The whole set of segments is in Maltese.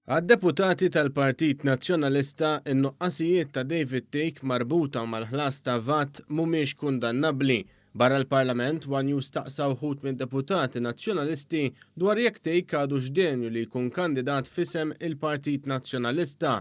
Għad-deputati tal-Partit Nazzjonalista, in-nuqqasijiet ta' David Thake marbuta mal-ħlas ta' VAT mhumiex kundannabbli. Barra l-Parlament, one News staqsa wħud mid-deputati Nazzjonalisti dwar jekk Thake għadux denju li jkun kandidat f'isem il-Partit Nazzjonalista.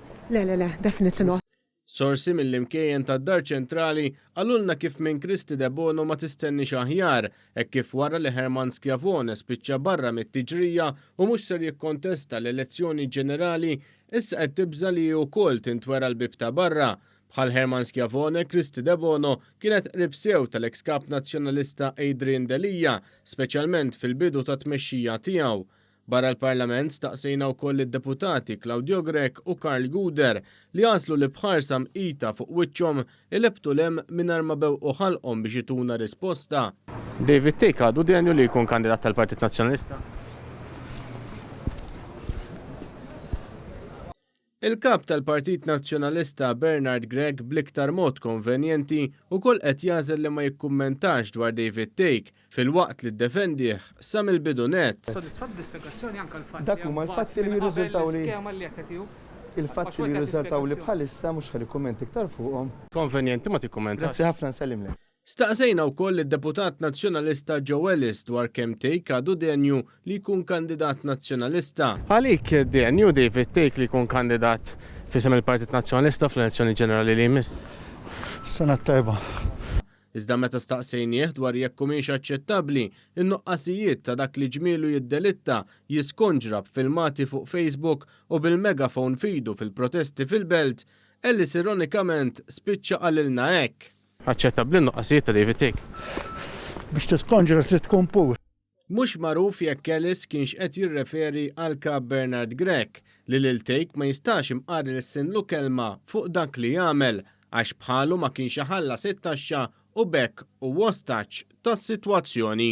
Le, le, le, definitely not. Sorsi mill-imkejjen tad-Dar Ċentrali qalulna kif minn Kristi Debono ma tistenniex aħjar, hekk kif wara li Herman Schiavone spiċċa barra mit-tiġrija u mhux ser jikkontesta l-elezzjoni ġenerali, issa qed tibża' li hi wkoll tintwera l-bieb ta' barra. Bħal Herman Schiavone, Kristi Debono kienet qrib sew tal-eks Kap Nazzjonalista Adrian Delia, speċjalment fil-bidu tat-tmexxija tiegħu. Barra l-Parlament, staqsejna wkoll lid-Deputati Claudio Grech u Karl Guder li għażlu li b'ħarsa mqita fuq wiċċhom ilebtu 'l hemm mingħajr ma bewqu ħalqhom biex ituna risposta. David Thake għadu denju li jkun kandidat tal-Partit Nazzjonalista? Il-Kap tal-Partit Nazzjonalista Bernard Grech bl-iktar mod konvenjenti wkoll qed jagħżel li ma jikkummentax dwar David Thake filwaqt li ddefendih sa mill-bidu nett. Dak huma l-fatti li jirriżultaw li, il-fatti li jirriżultaw li bħalissa mhux ħa nikkummenta iktar fuqhom. Konvenjenti ma tikkummentax. Grazzi ħafna nsellimlek. Staqsejna wkoll lid-Deputat Nazzjonalista Joe Ellis dwar kemm Tejk għadu denju li jkun kandidat Nazzjonalista. Għalik denju David Tejk li jkun kandidat f'isem il-Partit Nazzjonalista fl-elezzjoni ġenerali li jmiss? Sena t-tajba. Iżda meta staqsejnieh dwar jekk humiex aċċettabbli n-nuqqasijiet ta' dak li ġmielu jiddelitta, jiskonġra b'filmati fuq Facebook u bil-megaphone f'idu fil-protesti fil-Belt, Ellis ironikament spiċċa qalilna hekk. Aċċettabbli n-nuqqasijiet ta' David Thicke? Biex tiskonġra trid tkun pur. Mhux magħruf jekk Ellis kienx qed jirreferi għal Kap Bernard Grech li lil Thicke ma jistax imqar ilissinlu kelma fuq dak li għamel għax bħalu ma kienx iħallas it-taxxa u b'hekk hu ostaġġ tas-sitwazzjoni.